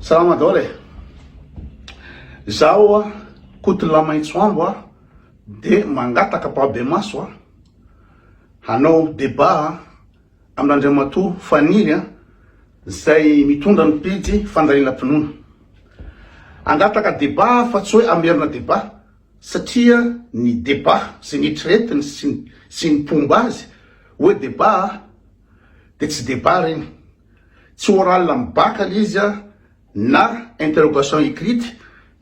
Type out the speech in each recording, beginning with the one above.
Salama daholo e! Izaho Koto Lamaitsoambo a, de mangataka Babemaso a, hanao débat a, amin'Andriamatoa Faniry a, zay mitondra ny pejy Fandalinam-pinoana. Hangataka débat aho fa tsy hoe hamerina débat, satria ny débat sy ny eritreretiny sy ny sy ny mpomba azy hoe débat a, de tsy débat reny. tsy oral amin'ny bac ilay izy a, na interrogation écrite,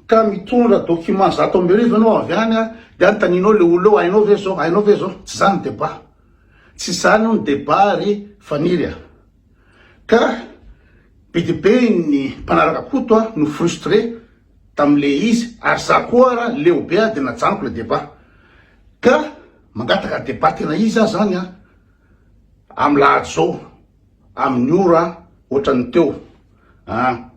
ka mitondra document zato amby arivo ianao avy any a, dia anontanianao ilay olona eo, hainao ve izao, hainao ve izao, tsy izany ny débat, tsy izany hono ny débat ry Faniry a. Ka be dia be ny mpanaraka Koto a no frustré tamin'ilay izy, ary za koa ara leo be a dia najanoko ilay débat. Ka mangataka débat tena iza zany a, amin'ny lahady izao. amin'ny ora ohatran'ny teo an!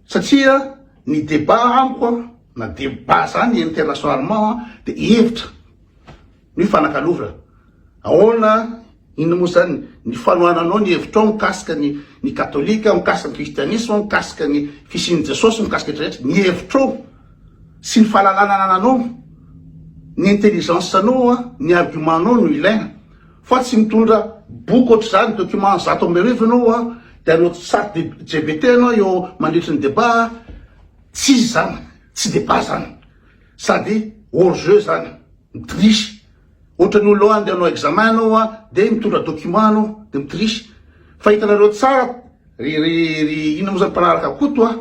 satria ny débat amiko an, na débat zany internationalement an, dia hevitra no hifanakalovana, ahoana, inona moa zany ny fanohananao ny hevitrao mikasika ny ny katolika, mikasika ny kristianisma, mikasika ny fisian'i Jesosy, mikasika rehetra rehetra, ny hevitrao sy ny fahalalana anananao, ny intelligence anao an, ny argument anao no ilaina Fa tsy mitondra boky ohatr'izany, document zato amby arivo ianao an, dia hanao chat gpt ianao eo mandritry ny debat an, tsy izy izany, tsy debat izany, sady hors jeu izany, mi-triche, ohatra ny olona andeha hanao examen ianao an, dia mitondra document ianao, dia mi-triche, fa hitanareo tsara ry ry ry inona moa izany mpanaraka Koto an,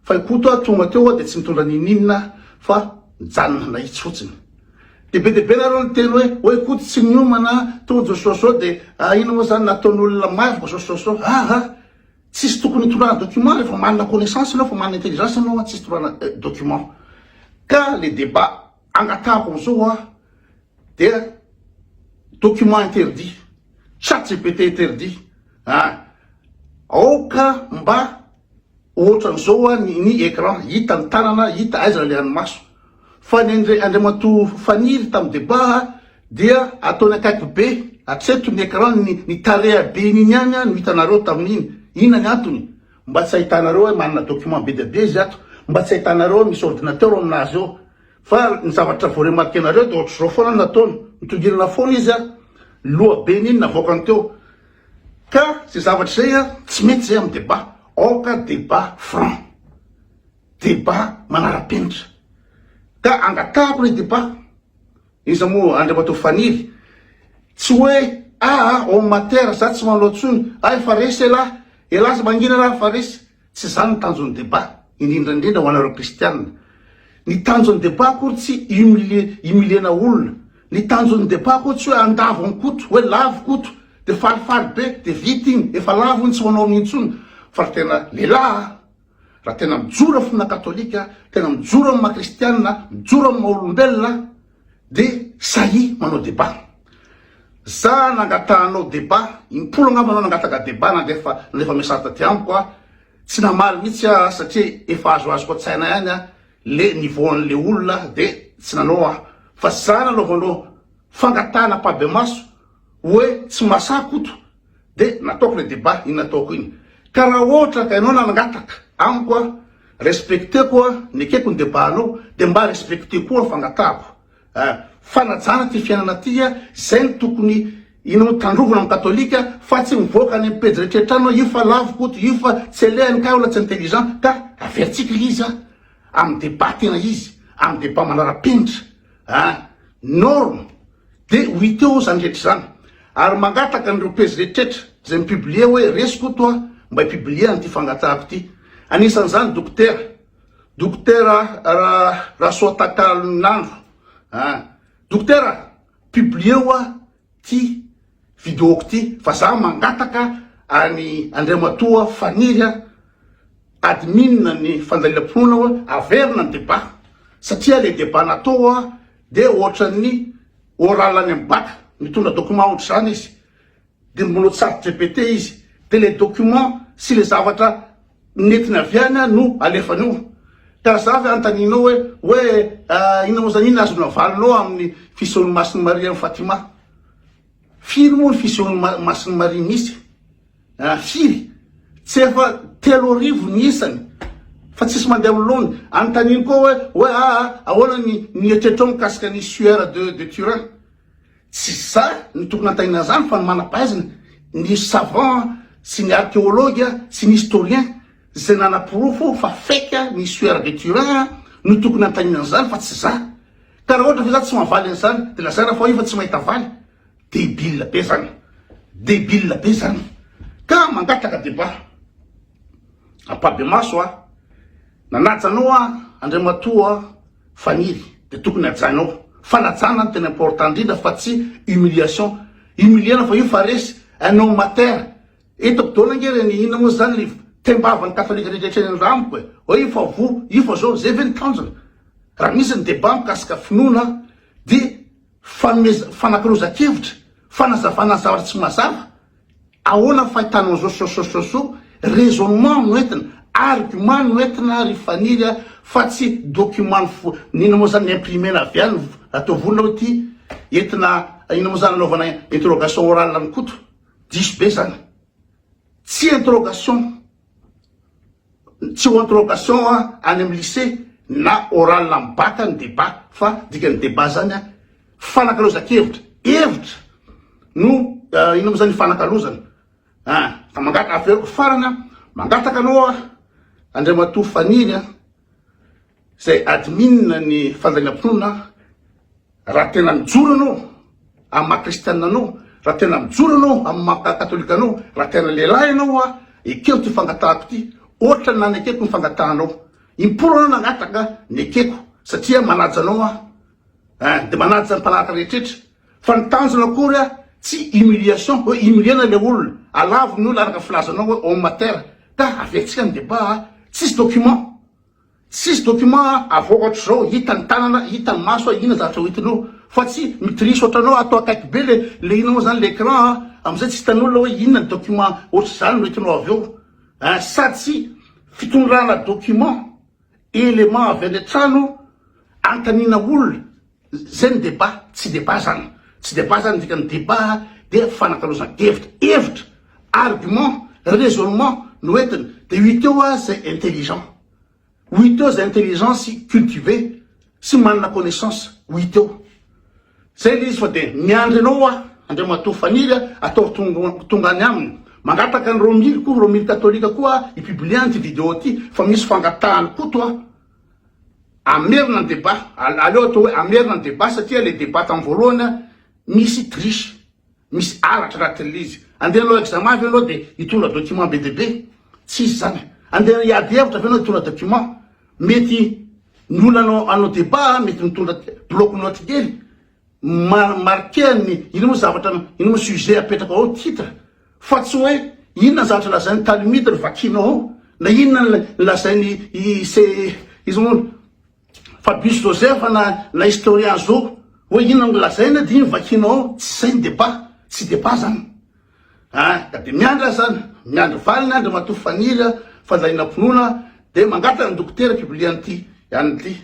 Fa i Koto a tonga teo a de tsy mitondra n'ininona fa mijanona nahitsy fotsiny. De be de be nareo niteny hoe oe Koto tsy niomana a, Tojo Soso de a ino moa zany nataon'olona maro vao Soso Soso a a! Tsisy tokony hitondrana document refa manana connaissance enao fa manana intelligence enao a tsisy tondrana eh document. Ka le debat angatahako amzao a dia document interdit, chat gpt interdit a! Aoka mba Ohatran'izao hoa ny ny écran, hita ny tanana, hita aiza ny lehan'ny maso. Fa ny an'i Andriamatoa Faniry tamin'ny débat dia ataony akaiky be hatreto ny écran, ny ny tareha be iny iny ihany no hitanareo tamin'iny. Inona ny antony? Mba tsy ahitanareo hoe manana document be dia be izy ato? Mba tsy ahitanareo hoe misy ordinateur amin'azy eo? Fa ny zavatra vao remarquer-nareo dia ohatr'izao foana ny nataony, mitongilana foana izy an! Ny lohabeny iny navoakany teo. Ka zay zavatra zay a tsy mety zay am debat, aoka debat franc, debat manarapenitra, ka angatahako le debat, iza mo Andriamatoa Faniry, tsy hoe aa homme matière za tsy manao tsony, ay fa resy elah, elah za mangina raha fa resy, Tsy izany ny tanjon'ny débat, indrindra indrindra ho anareo kristiana. Ny tanjon'ny débat akory tsy humilier, humilier-na olona. Ny tanjon'ny débat akory tsy hoe andavo an'i Koto, hoe lavo Koto, dia falifaly be, dia vita iny, efa lavo iny tsy ho anaonao intsony. Fa raha tena lehilahy aho, raha tena mijoro amin'ny finoana katolika aho, tena mijoro amin'ny maha kristiana aho, mijoro amin'ny maha olombelona aho, Dia sahia manao débat. Za nangatahanao débat, impolo angamba anao nangataka débat na dia efa nalefa message taty amiko aho. Tsy namaly mihitsy aho satria efa azoazoko an-tsaina ihany an le niveau an'le olona dia tsy nanao aho. Fa za nanaovanao fangatahana mpabemaso hoe tsy mahasahy Koto. de nataoko le debat iny nataoko iny ka ra ohatra ka ianao nangataka amiko a respecteko a nekeko ny debat anao de mba respecteo koa fangatahako a fanajana ty fiainana ty a zay ny tokony inao tandrovina am katolika fa tsy mivoaka any am pejy rehetra rehetra anao io fa lavo koto io fa tsy alehany ka olona tsy intelligent ka averitsika le izy a am debat tena izy am debat manara penitra Ah! Norm! Dia ho hita eo izany rehetra izany. Ary mangataka an'ireo pejy rehetrretra izay mi-publier hoe resy Koto a! mba hi-publier an'ity fangatahako ity. Anisan'izany Dokotera, Dokotera Ra, Rasoatakalonandro. Ah! Dokotera! Publier-o aho ty videoko ty fa za mangataka any Andriamatoa Faniry a admin ny fandalinam-pinoana hoe averina ny debat satria le debat natao a de ohatran'ny oral any amin'ny bac mitondra document ohatr'izany izy de mbola tsy sarotra repete izy de le document sy le zavatra Nentina avy any aho no alefa an'io. Tazavy anontanianao hoe, hoe inona moa izany, inona azonao avalonao amin'ny fisehon'i Masin'i Maria an'i Fatima? Firy moa ny fisehon'i Masin'i Maria misy? Ah, firy? Tsy efa telo arivo ny isany fa tsisy mandeha amin'ny laoniny. Anontaniany koa hoe, hoe ah, ahoana ny ny eritreritrao mikasika ny Sueur de de Turin? Tsy za no tokony hantaina an'izany fa ny manam-pahaizana, ny savant sy ny archéologue sy ny historien izay nanaporofo fa fake ny suaire de Turin no tokony hantaina an'izany fa tsy za. Ka raha ohatra ve za tsy mahavaly an'izany dia lazaina fa io fa tsy mahita valy? Debile be zany. Debile be zany. Ka mangataka débat. Ampabemaso a. Nanaja anao a, Andriamatoa a. Faniry de tokony hajaina ao. Fanajana no tena important indrindra fa tsy humiliation. Humilier-na fa io fa resy un homme à terre. Eto Bdona ange reny inona moa zany ny tembavan'ny katolika rehetra etreny ny rambo e. Oe io fa voa, io fa zao. Zay ve ny tanjona? Raha misy ny debat mikasika finoana dia. Fanomezana, fanakiroza-kevitra, fanazavana zavatra tsy mazava, ahoana ny fahitanao zao, sosososo, raisonnement no entina, argument no entina ry Faniry a, fa tsy document fo, inona moa zany imprimena avy any, atao vonona hoe ity, entina, inona moa zany anaovana interrogation orale an'i Koto, diso be zany, tsy interrogation. Tsy ho interrogation any amin'ny lycée na oral amin'ny bac ny débat fa dikan'ny débat zany a fanakalozan-kevitra, hevitra no inona moa zany ifanakalozana a! Ka mangata averiko farany a, mangataka anao a Andriamatoa Faniny a, zay admin ny fandalinam-pinoana a, Raha tena mijoro anao amin'ny maha kristianina anao, raha tena mijoro anao amin'ny maha katolika anao, raha tena lehilahy ianao hoa ekeo ity fangatahako ity, ohatra ny nanekeko ny fangatahanao. Im-polo anao nangataka, nekeko satria manaja anao aho. Eh, dia manaja ny mpanaraka rehetrretra. Fa ny tanjona akory ah, tsy humiliation, hoe humilier-na ilay olona, alavon'ny olona araka ny filazanao hoe homme à terre. Ka avertsika ny débat ah, tsisy document. Tsisy document avy ohatr'izao hita ny tanana hita ny maso a ina zavatra ho hitinao fa tsy mitrice ohatranao ato akaiky be le le ina moa zany le ecran a amizay tsy hitan'olona hoe inona ny document ohatr'izany no hitinao avy eo a sady tsy fitondrana document element avy any an-trano antanina olona Zay ny débat, tsy débat zany. Tsy débat zany, ny dikan'ny débat dia fanakalozana hevitra, hevitra, argument, raisonnement no entiny, dia ho hita eo ah zay intelligent, ho hita eo zay intelligent sy cultivé sy manana connaissance, ho hita eo. Zay le izy fa dia miandry anao ah Andriamatoa Faniry ah atao tonga any aminy, mangataka an'i Romily koa, Romily Katolika koa ah hi-publier an ity vidéo ity fa misy fangatahany koto ah. Hamerina ny débat, aleo atao hoe hamerina ny débat satria le débat tam voalohany misy triche, misy halatra raha tele izy. Andeha hanao examen ve ianao dia hitondra document be dia be? Tsy izy izany. Andeha hiady hevitra ve ianao hitondra document? Mety ny olona hanao débat mety mitondra bloc notes kely. marquer ny ino moa zavatra ino moa sujet apetrako ao titre fa tsy hoe inona ny zavatra lazain'ny talimite no vakinao ao na inona ny lazain'ny ise izy moa Fabrice Joseph na na historien zo hoe inona no lazaina dia iny vakinao ao tsy izay ny débat tsy débat zany A, ka dia miandry aza an, miandry valiny Andriamatoa Faniry a, fandalinam-pinoana dia mangataka ny dokotera mpibilia an'ity ihany ity.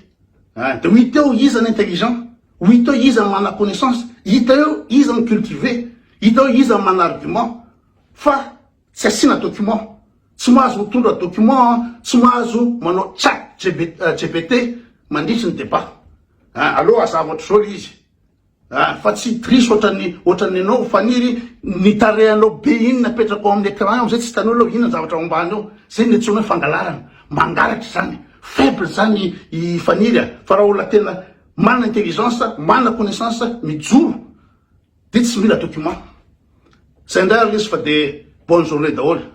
A, dia ho hita eo iza ny intelligent, ho hita eo iza ny manana connaissance, hita eo iza ny cultivé, hita eo iza ny manana argument, fa tsy asiana document. Tsy mahazo mitondra document an, tsy mahazo manao chat gpt mandritry ny débat. A, aleo hazava ohatr'izao ilay izy. Ah fa tsy trisy ohatran'ny ohatran'ny anao Faniry, ny tarehinao be iny napetrako amin'ny écran eo zay tsy hitan'olona hoe inona ny zavatra ao ambany ao, zay no iantsoana hoe fangalarana, mangalatra izany, faible izany i Faniry a, fa raha olona tena manana intelligence, manana connaissance, mijoro dia tsy mila document. Zay indray ary lesy fa dia bonne journée daholo.